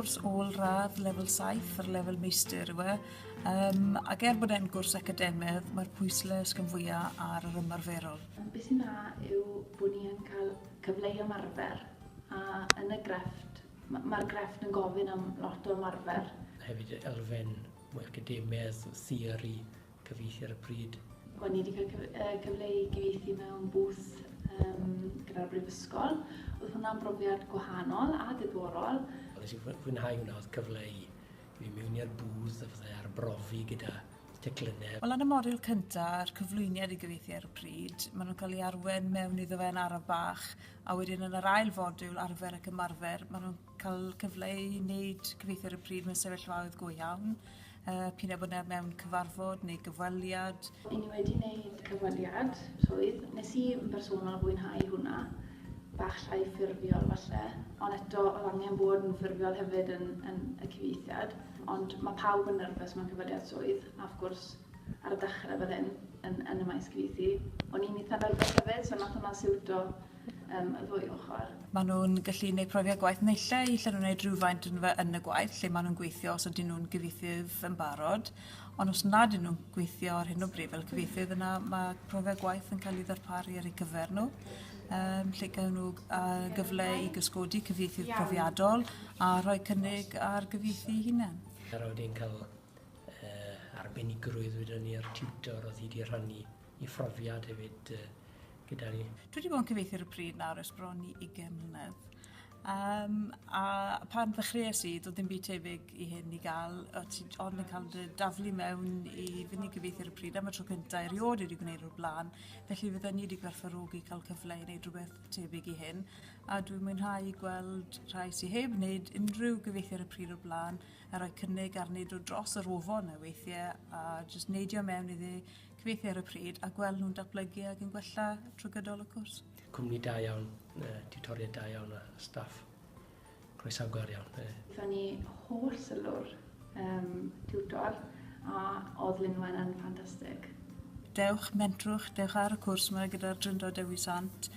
cwrs ôl radd lefel 7 ar lefel meistr yw e. Um, ac er bod e'n gwrs academedd, mae'r pwysle ysgyn fwyaf ar yr ymarferol. Beth sy'n dda yw bod ni'n cael cyfle i ymarfer a yn y grefft, mae'r grefft yn gofyn am lot o ymarfer. Hefyd elfen mwy academedd, theori, cyfieithu ar y pryd. O'n i wedi cael cyf uh, cyfle i gyfieithu mewn booth um, gyda'r brifysgol. Oedd hwnna'n brofiad gwahanol a diddorol. Nes i fwynhau hwnna, oedd cyfle i fi mewn i'r booth a fydde arbrofi gyda teclynnau. Wel, yn y modiwl cyntaf, a'r cyflwyniad i gyfeithi ar y pryd, maen nhw'n cael ei arwen mewn iddo fe yn araf bach, a wedyn yn yr ail fodiwl, arfer ac ymarfer, maen nhw'n Cael cyfle i neud cyfieithu ar y pryd mewn sefyllfaoedd go iawn, yy p'un a bod e mewn cyfarfod neu gyfweliad. I ni wedi neud cyfweliad rhwydd, nes i yn bersonol fwynhau hwnna, bach llai ffurfiol falle, ond eto o'dd angen bod yn ffurfiol hefyd yn yn y cyfieithiad, ond ma' pawb yn nyrfys mewn cyfweliad swydd, a wrth gwrs ar y dechre fel hyn yn yn y maes cyfieithu, o'n i'n itha nyrfys hefyd, so nath hwnna siwto yym y ddwy ochor. Ma' nw'n gallu neud profiad gwaith neille i lle nw'n neud rhywfaint yn fy yn y gwaith lle ma' nw'n gweithio os ydyn nw'n gyfieithydd yn barod ond os nad 'yn nw'n gweithio ar hyn o bryd fel cyfieithydd yna ma' profiad gwaith yn ca'l 'i ddarparu ar ei gyfer n'w yym lle gawn n'w yy gyfle i gysgodi cyfieithydd profiadol a rhoi cynnig ar gyfieithu 'i hunen. Yy rydw i'n ca'l uh, arbenigrwydd wedyn ni a'r tutor oedd hi wedi rhannu i phrofiad hefyd uh, gyda ni. Dwi wedi bod yn cyfeithi ar y pryd nawr ers bron i 20 mlynedd. Um, a pan ddechreuais i, doedd dim byd tebyg i hyn i gael, o ti ond yn cael dy daflu mewn i fynd i gyfeithi ar y pryd am y tro cyntaf erioed wedi gwneud o'r blaen, felly fydden ni wedi gwerthfarogi cael cyfle i wneud rhywbeth tebyg i hyn, a dwi'n mwynhau gweld rhai sy'n heb wneud unrhyw gyfeithi ar y pryd o'r blaen a rhoi cynnig arni dod dros yr ofon a weithie a jyst neidio mewn iddi, cyfieithu ar y pryd a gwel' nhw'n datblygu ag yn gwella trwy gydol y cwrs. Cwmni da iawn, tiwtoried da iawn a staff croesawgar iawn. Gaethon ni holl sylw'r yym tiwtor a odd Lynwen yn ffantastig. Dewch, mentrwch, dewch ar y cwrs 'ma gyda'r Drindod Dewi Sant.